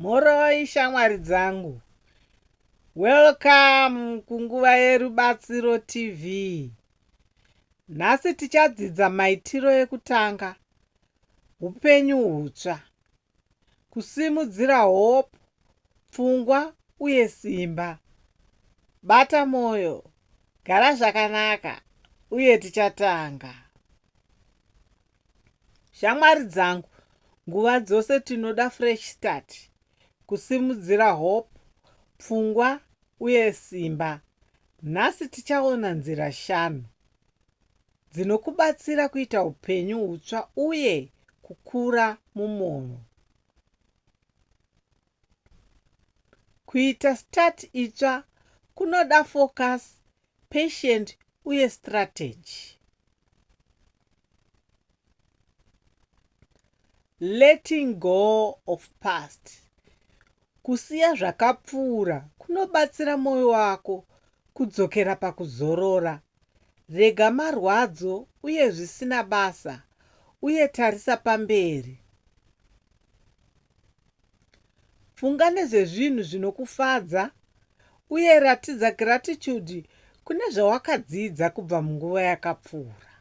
Mhoroi shamwari dzangu. Welcome kunguva yerubatsiro TV. Nhasi tichadzidza maitiro ekutanga, upenyu hutsva, kusimudzira hope, pfungwa uye simba. Bata moyo, gara zvakanaka uye tichatanga. Shamwari dzangu, nguva dzose tinoda fresh start, kusimudzira hope, pfungwa uye simba. Nhasi tichaona nzira shanu dzinokubatsira kuita upenyu hutsva uye kukura mumunhu. Kuita start itsva kunoda focus, patient uye strategy. Letting go of past. Kusiya zvakapfuura kunobatsira moyo wako kudzokera pakuzorora. Rega marwadzo uye zvisina basa uye tarisa pamberi. Funga nezvezvinhu zvinokufadza uye ratidza gratitude kune zvawakadzidza kubva munguva yakapfuura.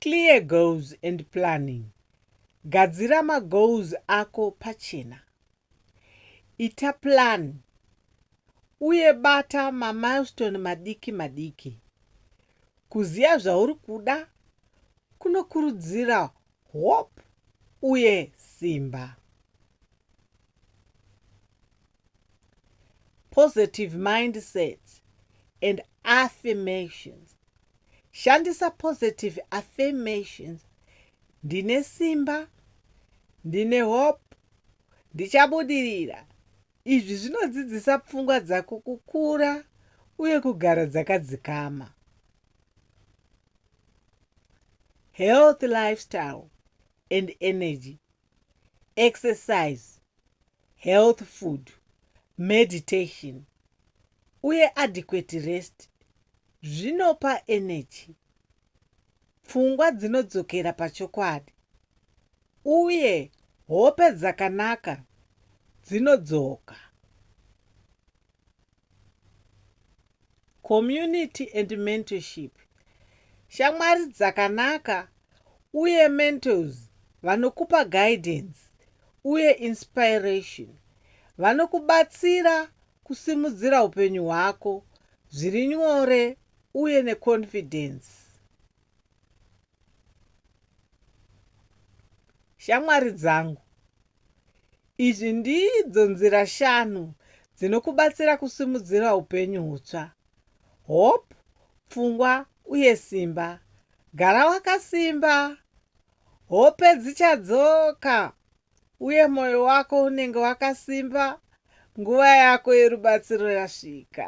Clear goals and planning. Gadzira magoals ako pachena. Ita plan uye bata mamilestone madiki madiki. Kuziva zvauri kuda kunokurudzira hope uye simba. Positive mindset and affirmations Shandisa positive affirmations. Ndine simba. Ndine hope. Ndichabudirira. Izvi zvinodzidzisa pfungwa dzako kukura uye kugara dzakadzikama. Health lifestyle and energy exercise health food meditation uye adequate rest zvinopa energy pfungwa dzinodzokera pachokwadi uye hope dzakanaka dzinodzoka Community and mentorship. Shamwari dzakanaka uye mentors vanokupa guidance uye inspiration. Vanokubatsira kusimudzira upenyu hwako zviri nyore uye neconfidence. Shamwari dzangu Izvi ndidzo nzira shanu dzinokubatsira kusimudzira upenyu hutsva, hope, pfungwa uye simba. Gara wakasimba, hope dzichadzoka uye mwoyo wako unenge wakasimba nguva yako yerubatsiro yasvika.